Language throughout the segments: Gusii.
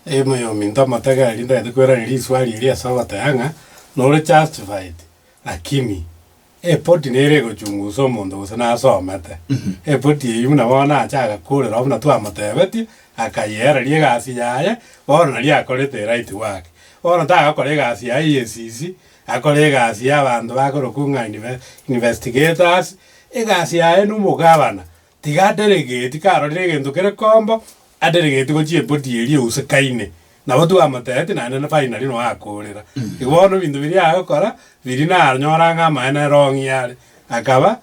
Eema y'ominto amatagi aria ndagete kweraneria riswari eri ase ogoteba ng'a nore justified, lakini eripoti nere egochungusa omonto gose nasomete eripoti eyio buna bono nache agakorera oo buna twamotebetie akayeereria egasi yaye bono naria akorete eright work. Bono tagokora egasi ya EACC, akore egasi y'abanto bakorokwa ng'a inve investigators, egasi yaye na omogabana tiga aderegeti karorire egento kere kombo, aderegeti gochia epoti eria eusekaine. Nabo twamotebetie naende na finally noe akoorera. Igo bono ebinto biria agokora biria nanyora ng'a amaene rong'i are. Akaba,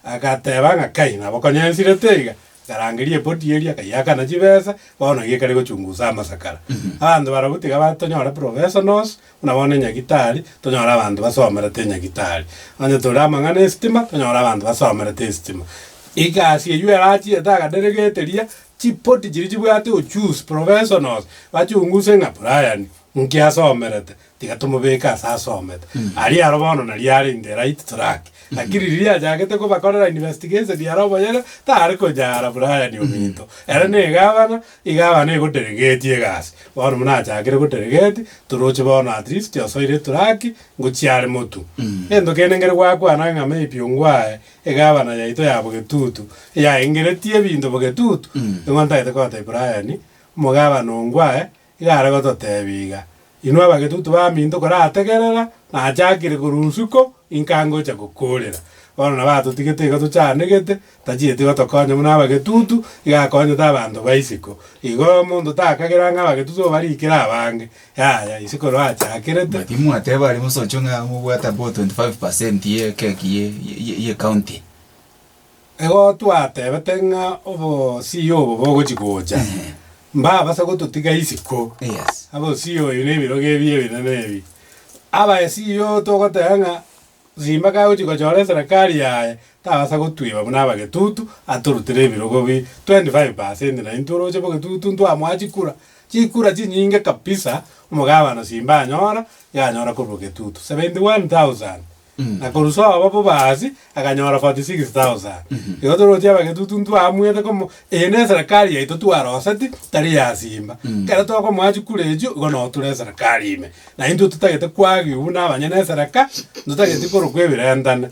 agateba ng'a kai nabo konyensirete iga, akarangeria epoti eria akaiakana chibesa, bono iga ekare gochungusa amasakara. Abanto barabwo tiga batonyore professionals. Buna bono enyagitari, tonyore abanto basomerete enyagitari. Onye tore amang'ana esitima, tonyore abanto basomerete esitima. Egasi eyio erachie etagaderegete riia, chipoti chiria chibwate uchusi, professionals, bachunguse ng'a Brian nki asomerete, tiga tomobeke ase asomete. Aria aro bono nari are in the right track. Lakini riria achagete kobakorera investigation aro oboyega, tare konya ara Brian ominto. Ere ne egavana, Iga abana egoteregetie egasi. Bono buna achakire goteregeti, toroche bono at least osoire eturaki ngochia are motu. Gento kende ngere gwakwana ng'a maybe ongwae egabana yaito ya Bogetutu eyaengeretie ebinto Bogetutu, nigo ntagete kogotebia Brian, omogabana ongwae iga are gototebia iga. Inwe abagetutu baminto korategerera, nachakire korwa usuko, inka ngocha gokoorera. Bono nabo atotigete iga tochanegete, tachieti gotokonya buna abagetutu, iga akonyete abanto ba isiko. Igo omonto takagera ng'a abagetutu obarikire abange, yaya, ise koroachakerete. Naki mwateba aria mosocho ng'a mobwate abao 25% ye ekeki ye ye ye ye county. Ego twatebete ng'a obosio obo bogochi gocha, mbabase gototiga isiko, abosio oyo na ebirogo ebi ebinene ebi. Abasio togoteba ng'a Simba kagochi gochora eserekari yaye, tabasa gotwiba buna abagetutu, atorutire ebirogo bi 25 percent na intwe oroche bogetutu ntwamoa chikura, chikura chinyinge kabisa omogabano Simba anyora, iga anyora korwa getutu, 71,000. na korusia obo bobasi akanyora 46,000. Igo toroche abagetutu ntwaamwete komo eye neserekari yaito twaroseti tari yasimba. Ekero tokomoa chikura echio igo no ture eserekari ime. Na intwe totagete kwagiwa buna abanyene esereka ntotageti korokwa ebirentane.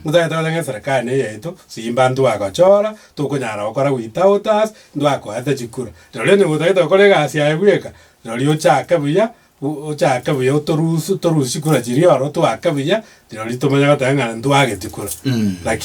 Ntotagete gocha ng'a eserekari neye yaito simba ntwagochora tokonyara gokora without us ntwakoete chikura. Rori onye gotagete gokora egasi yaye bweka rori ochake buya Ochake buya otorusie, torusie kura chiria oro, twake buya, rirorio tomanye goteba ng'a ntwagetie kura. Lakini.